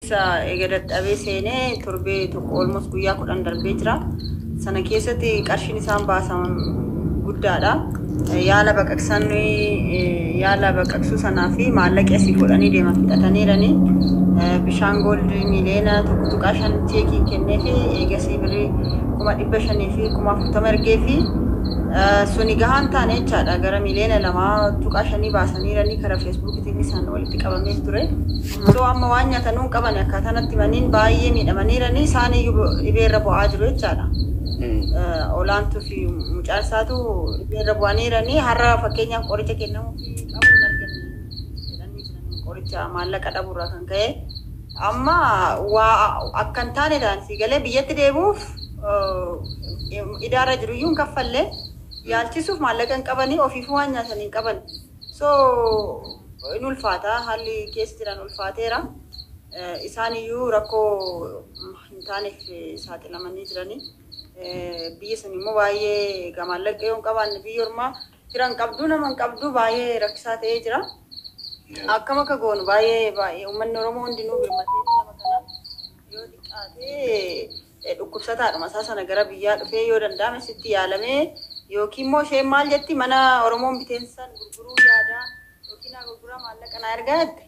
Isa eega dadhabee seenee torbee tokko almost guyyaa kudhan darbee jira. Sana keessatti qarshiin isaan baasan guddaadha. Yaala baqaqsan yaala baqaqsuu sanaa fi maallaqa asii fuudhanii deeman fixataniirani. Bishaan gooldi miiliyoona tokko tuqaa shan cheekiin kennee fi eegasii birrii kuma dhibba shanii fi kuma afurtama ergee fi suni gahaan taane jechaadha gara miiliyoona lamaa tuqaa shanii baasaniirani karaa feesbuukiitiin isaan walitti qabameef ture. Osoo amma waan nyatanuu hin qabane akkaataa natti himaniin baay'ee miidhamaniiranii isaaniyyuu dhibeerra bu'aa jiru jechaadha. Eh, Olaantuu fi mucaan isaatu dhibeerra bu'aniiranii har'a fakkeenyaaf qoricha kennamuufi qabu hin arganne jedhanii jiran qoricha maallaqa dhabuurraa kan ka'e. Amma waa akka hin taane ta'an sii galee biyyatti deebi'uuf eh, idaarra jiruyyuu hin kaffalle yaalchisuuf maallaqa hin qabanii ofiifuu waan nyaatan hin qaban. So in ulfaata haalli keessa jiran ulfaateera. Isaan iyyuu rakkoo hin taaneef saaxilamanii jiranii. Biyya san immoo baay'ee gamaallaqa yoo hin qabaanne biyya ormaa fira hin qabdu nama hin qabdu baay'ee rakkisaa ta'ee jira. Akkam akka goonu baay'ee baay'ee uummanni Oromoo hundinuu birmatee nama kana yoo xiqqaate dhukkubsataadhuma isaa sana gara biyyaa dhufee yoo danda'ame asitti yaalamee yookiin immoo isheen maal jetti mana Oromoon biteen san gurguruu yaadaa yookiin naa gurguraa maallaqa naa ergaa jette.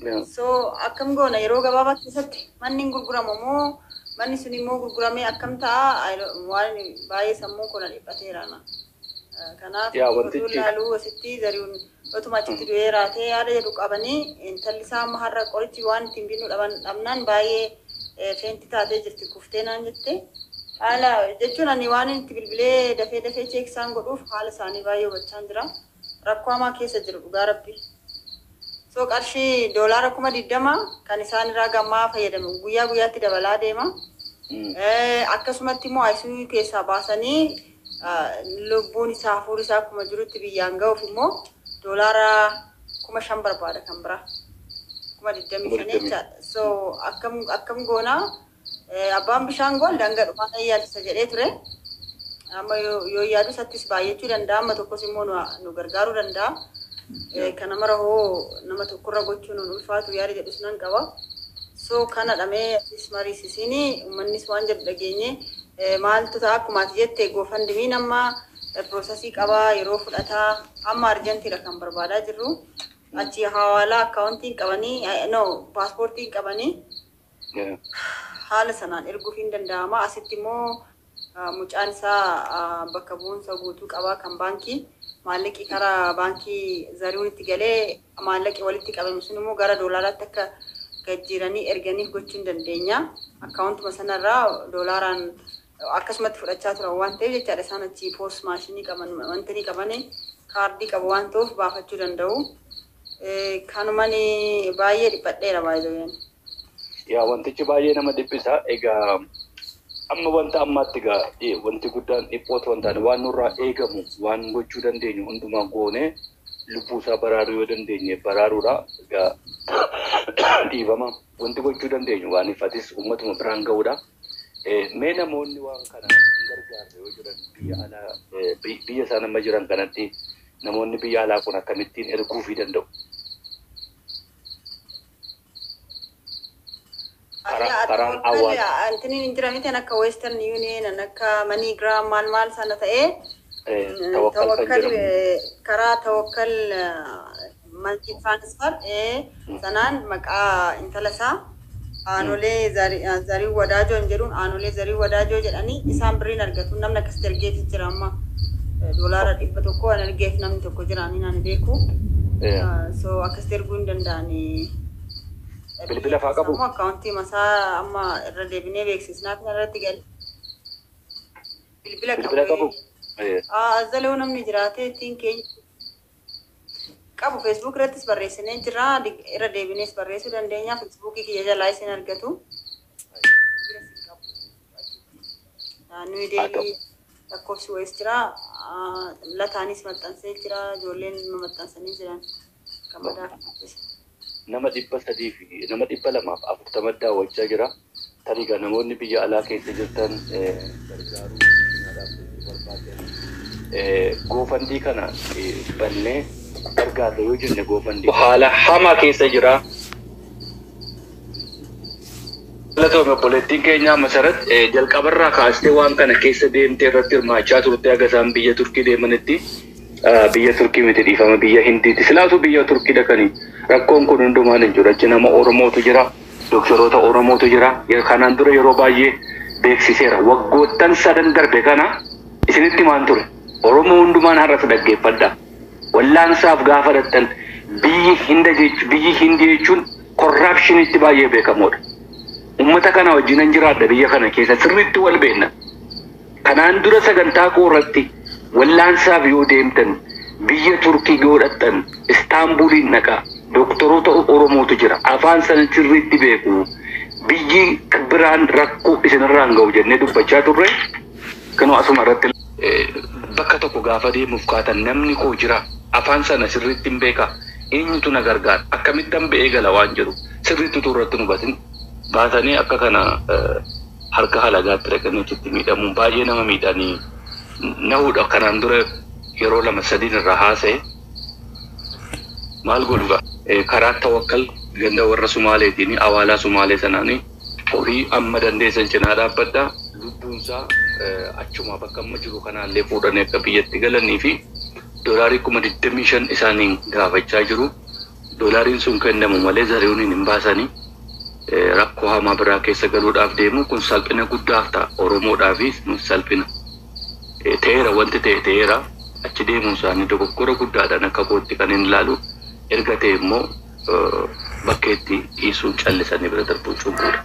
Yaa. So akkam goona yeroo gabaabaa keessatti manni hin gurguramu moo manni sun immoo gurguramee akkam ta'a I don't- waan baay'ee sammuun koo na dhiphateera na. Kanaaf Yaa oduu wantichi- laaluu asitti zari'uun otuma achitti du'ee raatee yaada jedhu qabanii intalli isaa amma har'a qorichi waan ittiin binnu dhaban dhabnaan baay'ee eh, feenti taatee jirti kuftee naan jette. Haala jechuun ani waan inni itti bilbilee dafee dafee cheek isaan godhuuf haala isaanii baay'ee hubachaan jira. Rakkoo hamaa keessa jiru dhugaa rabbi. So qarshii doolaara kuma digdama kan isaan irraa gammaa fayyadamu guyyaa guyyaatti dabalaa deema. Eh, akkasumatti immoo ICU keessaa baasanii lubbuun isaa hafuurri isaa akkuma jirutti biyyaan ga'uuf immoo doolaara kuma shan barbaada kan biraa kuma digdamii shan jecha so akkam akkam goonaa abbaan bishaan gool danga dhumaa ta'ee yaadisa jedhee ture amma yoo yaadu isattis baay'achuu danda'a amma tokkos immoo nu gargaaruu danda'a kana mara hoo nama tokkorra gochuun ulfaatu yaada jedhus nan qaba So kanadha mee atis mariisisiini ummannis waan jedhu dhageenye maaltu ta'a akkuma ati jette gofandmiin amma processii qaba yeroo fudhata amma arjantiidha kan barbaadaa jirru achi hawaalaa akkaawuntiin qabanii no paaspoortiin qabanii Yeah. haala sanaan erguuf hin danda'ama asitti immoo Mucaan isaa bakka bu'umsa guutuu qaba kan baankii. Maallaqi karaa baankii Zarihuunitti galee maallaqi walitti qabame sun immoo gara doolaaraatti akka gajjiiranii erganiif gochuu hin dandeenya. Akkaawuntuma sanarraa doolaaraan akkasumatti fudhachaa turan waan ta'eef jechaadha isaan achi poos maashinii qaban wanti ni qaban kaardii qabu waan ta'uuf baafachuu danda'u. Kanumani baay'ee dhiphadheera baay'ee. Yaa wantichi baay'ee nama dhiphisa. Egaa amma wanta ammaatti egaa eh, wanti guddaan dhiphoo ta'uu hin taane waan nurraa eegamu waan gochuu dandeenyu hundumaa goone lubbuu isaa baraaruu yoo dandeenye baraaruudha. Egaa dhiifama wanti gochuu dandeenyu waan ifatis uummatuma biraan ga'uudha. Eh, Mee namoonni waan kana hin gargaarre yoo jiran biyya alaa eh, bi- biyya isaan amma jiran kanatti namoonni biyya alaa kun akkamittiin erguufii danda'u? Karaan awwaala. Antiniin hin jira miti akka Western Union akka MoneyGram maal maal sana ta'ee tawakkal karaa tawakkal multi transfer sanaan maqaa intala isaa aanolee zarii wadaajoo hin jedhuun aanolee zarii wadaajoo jedhanii isaan birriin argatu namni akkas ergeeti jira amma doolaara dhibba tokko an ergeef namni tokko jira ani naan beeku so akka Itti erguu hin danda'ani. Bilbila faa qabu? Ammoo akkaawuntii masaa amma irra deebinee beeksisnaa kana irratti gali. Bilbila Bilbila qabu. qabu? Eh, Aa, Azzalee namni jiraatee ittiin keenya qabu Facebook irrattis barreessinee jira. Dig- Irra deebinees barreessuu dandeenya. Facebook kiyya jalaa isin argatu. Bilbila isin qabu. Aa, Nuyi Haa ta'u. deebii Lakkoofsi wayis jira. Lataanis maxxansee jira. Ijoolleen maxxansanii jiran. Gammadaan dubbisa. Nama dhibba sadii fi nama dhibba lamaa fi afurtama daawwachaa jira. Tarii egaa namoonni biyya alaa keessa jirtan gargaaruu cinaa dhaabbachuu barbaaddan goofandii kana bannee gargaarra yoo jenne goofandii haala hamaa keessa jira. Galatoomi obboleettiin keenyaa Masarat. Jalqabarraa kaastee waan kana keessa deemtee irratti hirmaachaa turte haga isaan biyya Turkii deemanitti. Biyya Turkii miti dhiifama biyya Hindiiti. Silaa utuu biyya Turkii dhaqanii rakkoon kun hundumaan hin jiru. Achi nama Oromootu jira, doktoroota Oromootu jira. Kanaan dura yeroo baay'ee beeksiseera. Waggoottan sadan darbe kana isinitti himaan ture. Oromoo hundumaan har'as dhaggeeffadhaa. Wallaansaaf gaafa dhaqxan biyyi Hindii jechuun korraapshiniitti baay'ee beekamoodha. Ummata kana wajjinan jiraadha biyya kana keessa sirriitti wal beekna. Kanaan dura sagantaa koo irratti wallaansaaf yoo deemtan biyya Turkii yoo dhaqxan Istaanbuliin dhaqaa. Doktoroota Oromootu jira. Afaan sana sirriitti beeku. Biyyi biraan rakkoo isinirraan ga'u jennee dubbachaa turre. Kunoo asuma irratti. bakka tokko gaafa deemuuf kaatan namni koo jiraa? Afaan sana sirriittin beekaa? Eenyutu na gargaara? Akkamittan ba'ee gala waan jedhu sirriitti utuu irratti hin hubatin baatanii akka kana harka halagaatti dhaqanii achitti miidhamuun baay'ee nama miidha. Ani na hudha kanaan dura yeroo lama sadiin irraa haasa'e. Maal godhu gaa? Karaa Tawakkal ganda warra Sumaaleetiin, Awaalaa Sumaalee sanaani. Horii amma dandeessan cinaa dhaabbadhaa, lubbuun isaa achumaa bakka amma jiru kanaa illee fuudhanii akka biyyatti galanii fi dolaarii 25,000 isaaniin gaafachaa jiru. Dolaariin sun kennamu malee Zarihuuniin hin baasani. Rakkoo hamaa biraa keessa galuudhaaf deemu. Kun salphina guddaaf ta'a. Oromoodhaafis nuuf salphina. Ta'eera wanti ta'e ta'eera. Achi deemuun isaanii dogoggora guddaadhaan akka kootti kanin ilaalu. Erga ta'e immoo. bakkeetti dhiisuun callisanii bira darbuun cubbuudha.